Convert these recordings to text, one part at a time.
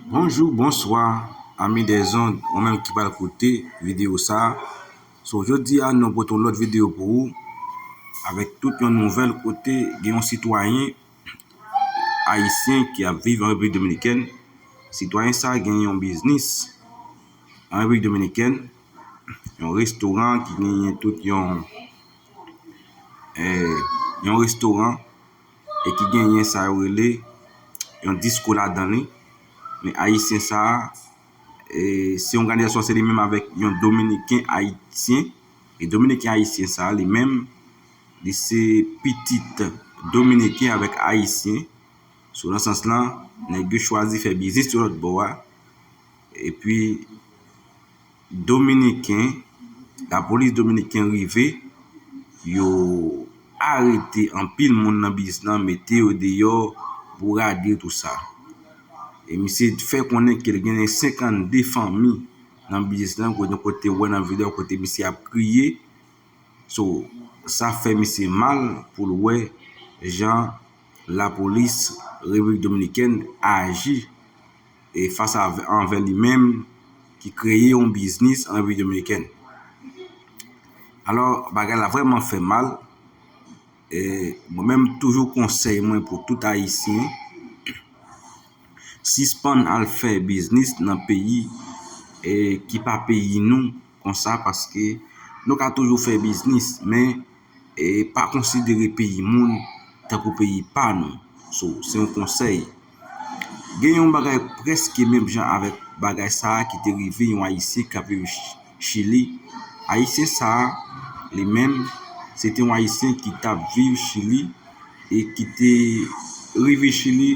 Bonjou bonswa ami des ondes ou menm ki pral koute video sa so jodi a nou pote yon lòt video pou ou avèk tout yon nouvèl kote gen yon sitwayen ayisyen ki ap viv an Repiblik Dominikèn sitwayen sa gen yon biznis an Repiblik Dominikèn yon restoran ki genyen tout yon yon restoran e ki genyen sa yo rele yon diskou ladan li, men ayisyen sa a, se yon gadè sòsyè li menm avèk yon dominiken ayisyen, e dominiken ayisyen sa a li menm, li se pitit dominiken avèk ayisyen, sou nan sans lan, nèg yo chwazi fè biznis yon lòt bò a, epi. Dominiken, Lapolis dominiken rive, yo arete anpil moun nan bis lan, mete yo deyò, bourade tout sa. E misye fè konnen ke gen 52 fanmi nan bis lan kote nou te wè nan video kote misye ap kriye. So, sa fè misye mal pou l wè jan Lapolis Repiblik Dominikèn aji. E fas a anvè li menm ki kreye yon biznis an Repiblik Dominikèn. Alò bagay la vrèman fè mal. E mwen menm toujou konsèy mwen pou tout ayisyen sispann al fè biznis nan peyi e ki pa peyi nou konsa paske nou ka toujou fè biznis men E pa konsidere peyi moun tankou peyi pa nou. So, se yon konsèy. Gen yon bagay prèske menm jan avèk bagay sa a ki te rive yon Ayisyen k ap viv Chili. Ayisyen sa a, li menm, se te yon Ayisyen ki t ap viv Chili e ki te rive Chili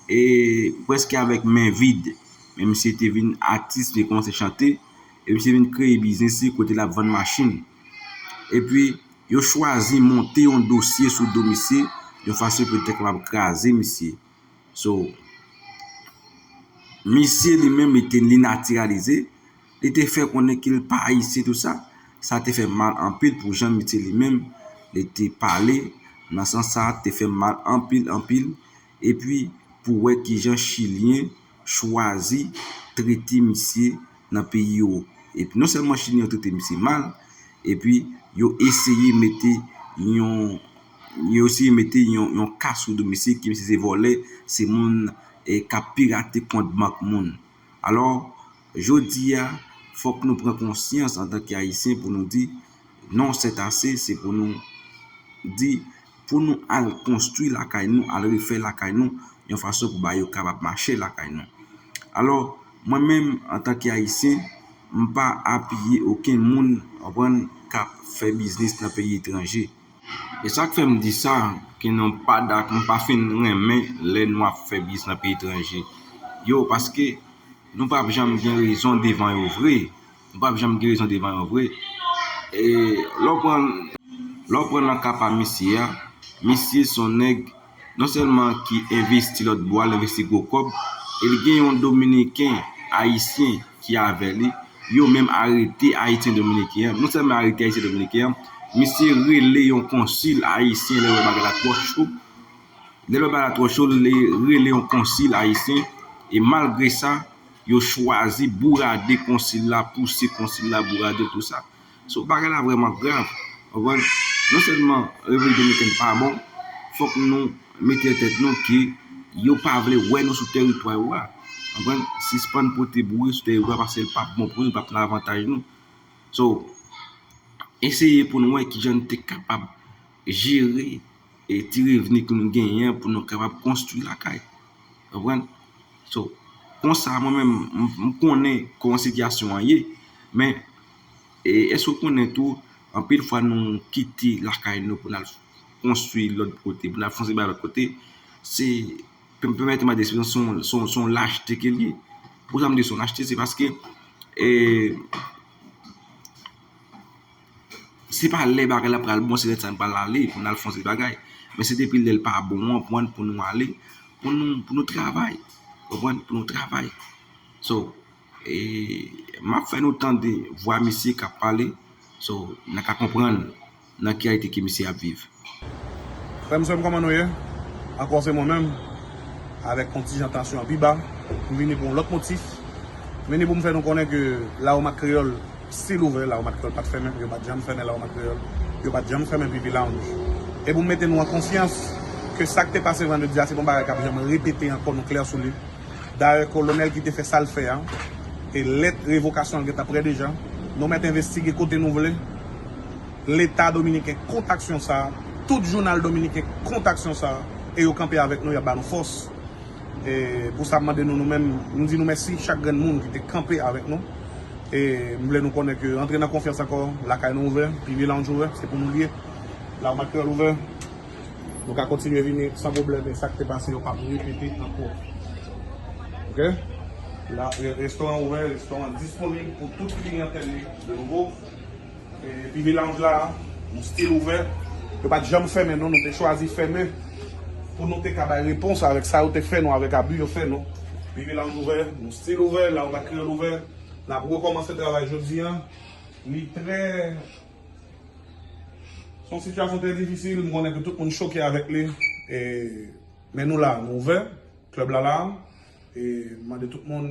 e prèske avèk men vid. Men misye te vin atis, li kòmanse chante e misye vin kreye biznis li kote l ap vann machin. Epi, yo chwazi monte yon dosye sou do misye, yon fason pou yo te kapab kraze misye. So, misye li menm li te li natiralize, li te fè konnen ke li pa Ayisyen tou sa, sa te fè mal anpil pou jan misye li menm li te pale, nan sans sa te fè mal anpil anpil. Epi pou wè kijan chilyen chwazi trete misye nan peyi yo. Epi non sèlman chilyen yo trete misye mal, epi yo eseye mete yon yo eseye mete yon yon ka sou do misye ke misye se vòlè, se moun k ap pirate kont bank moun. Alò, jodi a, fòk nou pran konsyans antanke Ayisyen pou nou di non sètase, se pou nou di. Pou nou al konstwi lakay nou, al refè lakay nou, yon fason pou bagay yo kapab mache lakay nou. Alò, mwen menm, antanke Ayisyen, m pa apiye okenn moun, ou konprann, k ap fè biznis nan peyi etranje. E sa k fè m di sa, ke non pa dak, m pa fin renmen lè nou ap fè biznis nan peyi etranje yo, paske nou pap janm gen rezon devan yo vre. Nou pap janm gen rezon devan yo vre. Lè w pran nan ka pa misye a, misye son nèg non sèlman ki envesti lòt bò a, li envesti gwo kòb e li gen yon dominiken, ayisyen ki avè li, yo menm arete ayisyen dominiken an. Non sèlman yo arete ayisyen dominiken an, misye rele yon konsil ayisyen lè l wè bagay la twò cho. Lè l wè bagay la twò cho, li rele yon konsil ayisyen e malgre sa. Yo chwazi bourade konsil la, pouse konsil la, bourade l, tout sa. So, bagay la vrèman grav. Ou konprann? Non sèlman Repiblik Dominikèn pa bon, fòk nou mete nan tèt nou ke yo pa vle wè nou sou teritwa yo a. Ou konprann? Sispann pote bri sou teritwa yo paske l pap bon pou nou, l pap nan avantaj nou. So, eseye pou nou wè kijan nou te kapab jere. e ti revni ke nou genyen an pou nou kapab konstwi lakay ou konprann so konsa mwen menm m konnen kòman sitiyasyon an ye men e èske ou konnen tou anpil fwa nou kite lakay nou pou n al konstwi lòt kote pou n al fon seri bagay lòt kote se pèmète m ba de espresyon se yon se yon lachte ke l ye poukisa m di se yon lachte se paske e Se pa lè bagay la pral bon se lè sa n pral ale pou n al fè yon seri bagay. Men se depi lè l pa bon an pwen pou nou ale, pou nou travay. Ou konprann? Pou nou travay. So, e m ap fè nou tande vwa misye k ap pale. So, n a ka konprann nan ki reyalite ke misye ap viv. Frèm sèm kòman nou ye? Ankò se mwen menm avèk kontijan tansyon an pi ba m vini pou yon lòt motif m vini pou m fè nou konnen ke Lawomak Kreyòl stil ouvè Lawomak Kreyòl pat fèmen yo pat janm fèmen Lawomak Kreyòl yo pat janm fèmen PP Lounge e pou m mete nou an konfyans ke sa k te pase vandredi a se pa yon bagay k ap janm repete ankò nou klè sou li dayè kolonèl ki te fè sa l fè a e lèt revokasyon l gentan prè deja nou mèt envestige kote nou vle. Leta dominiken kont aksyon sa a, tout jounal dominiken kont aksyon sa a, e yo kanpe avèk nou, y ap ba nou fòs. E pou sa m mande nou nou menm, m di nou mèsi chak grenn moun ki te kanpe avèk nou. E m vle nou konnen ke antre nan konfyans ankò, lakay nou ouvè, Piggy Lounge ouvè, se pou nou l ye. L'Armat Creole ouvè, nou ka kontinye vini san pwoblèm e sa k te pase yo p ap repete ankò. Ok. Restoran ouvè, restoran disponib pou tout kliyantèl li de nouvo. Epi melanj la nou stil ouvè. Yo pat janm fèmen non nou te chwazi fèmen pou nou te ka bay repons avèk sa yo te fè nou avèk abi yo fè nou. Epi melanj ouvè nou stil ouvè lang ak kreyòl ouvè nap rekòmanse travay jodi an li trè son sitiyasyon trè difisil m konnen ke tout moun choke avèk li men nou la nou ouvè klèb la la e mande tout moun